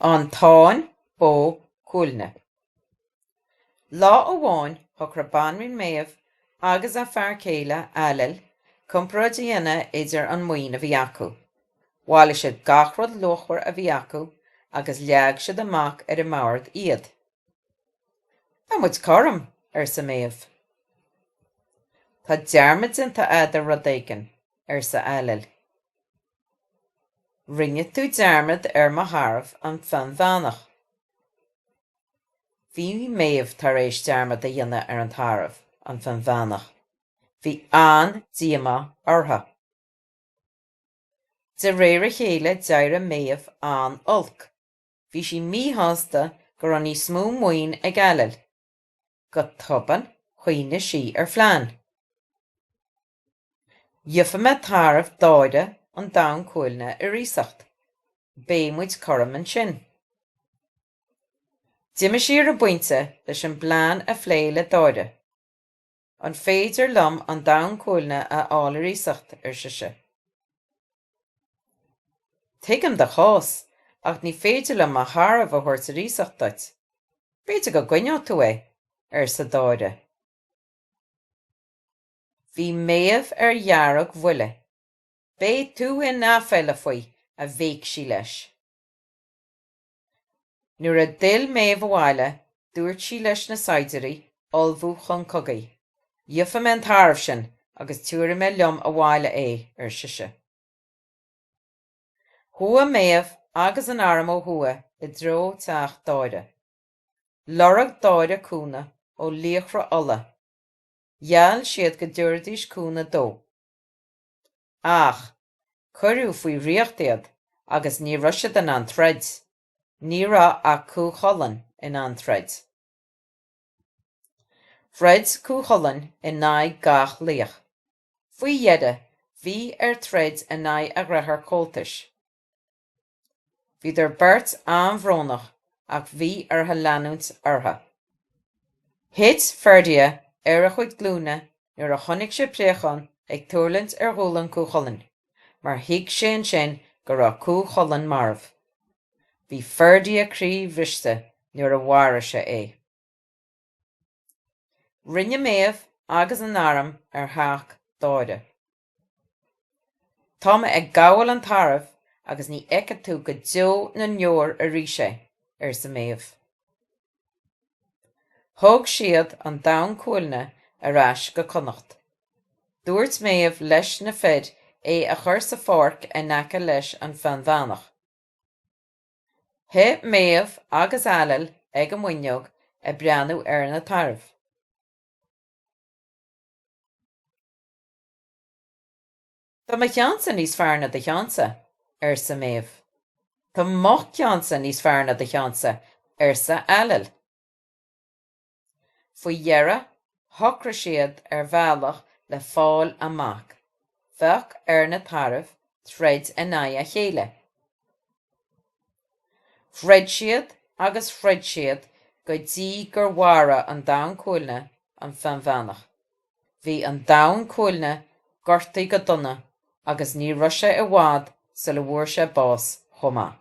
An Táin Bó Cuailgne. Lá amháin thogair Banríon Méabh agus a fear céile, Ailill, comparáid a dhéanamh idir an maoin a bhí acu. Bhailigh siad gach rud luachmhar a bhí acu agus leag siad amach ar an mbord iad. Tá muid cothrom, arsa Méabh. Tá dearmad déanta agat ar rud éigin, arsa Ailill. Rinne tú dearmad ar mo tharbh an Fionnbheannach. Bhí Méabh tar éis dearmad a dhéanamh ar an tarbh an Fionnbheannach. Bhí an-díomá orthu. De réir a chéile d'éirigh Méabh an-olc. Bhí sí míshásta go raibh níos mó maoin ag Ailill. Go tobann chuimhnigh sí ar phlean. Gheobhaidh mé tarbh Dáire an Donn Cuailgne ar iasacht. Beidh muid cothrom ansin. D'imigh sí ar an bpointe leis an bplean a phlé le Dáire. An féidir liom an Donn Cuailgne a fháil ar iasacht, ar sise. Tuigim do chás, ach ní féidir liom mo tharbh a thabhairt ar iasacht duit. B'fhéidir go gcoinneodh tú é, arsa Dáire. Bhí Méabh ar dheargbhuile. Beidh tú in aiféala faoi, a bhéic sí leis. Nuair a d'fhill Méabh abhaile, dúirt sí leis na saighdiúirí ullmhú chun cogaidh. Gheobhaidh mé an tarbh sin agus tabharfaidh mé liom abhaile é, ar sise. Chuaigh Méabh agus an arm ó thuaidh i dtreo teach Dáire. Lorg Dáire cúnamh ó laochra Uladh. Gheall siad go dtabharfaidís cúnamh dó. Ach cuireadh faoi dhraíocht iad agus ní raibh siad in ann troid. Ní raibh ach Cú Chulainn in ann troid. Throid Cú Chulainn in aghaidh gach laoich. Faoi dheireadh, bhí air troid in aghaidh a dheartháir comhaltais. Bhí an bheirt an-bhrónach ach bhí orthu leanúint orthu. Thit Ferdia ar a chuid glúine nuair a chonaic sé préachán ag tuirlingt ar ghualainn Cú Chulainn mar thuig sé ansin go raibh Cú Chulainn marbh. Bhí Ferdia croíbhriste nuair a mharaigh sé é. Rinne Méabh agus an arm ar theach Dáire. Tá mé ag gabháil an tairbh agus ní fheicfidh tú go deo na ndeor arís é, arsa Méabh. Thug siad an Donn Cuailgne ar ais go Connacht. Dúirt Méabh leis na fir é a chur sa pháirc in aice leis an bhFionnbheannach. Shuigh Méabh agus Ailill ag an bhfuinneog ag breathnú ar na tairbh. Tá mo cheann-sa níos fearr ná do cheann-sa, arsa Méabh. Tá mo cheann-sa níos fearr ná do cheann-sa, arsa Ailill. Faoi dheireadh, shocraigh siad ar bhealach le fáil amach. Bheadh ar na tairbh troid in aghaidh a chéile. Throid siad agus throid siad go dtí gur mharaigh an Donn Cuailgne an Fionnbheannach. Bhí an Donn Cuailgne gortaithe go dona agus ní raibh sé i bhfad sula bhfuair sé bás chomh maith.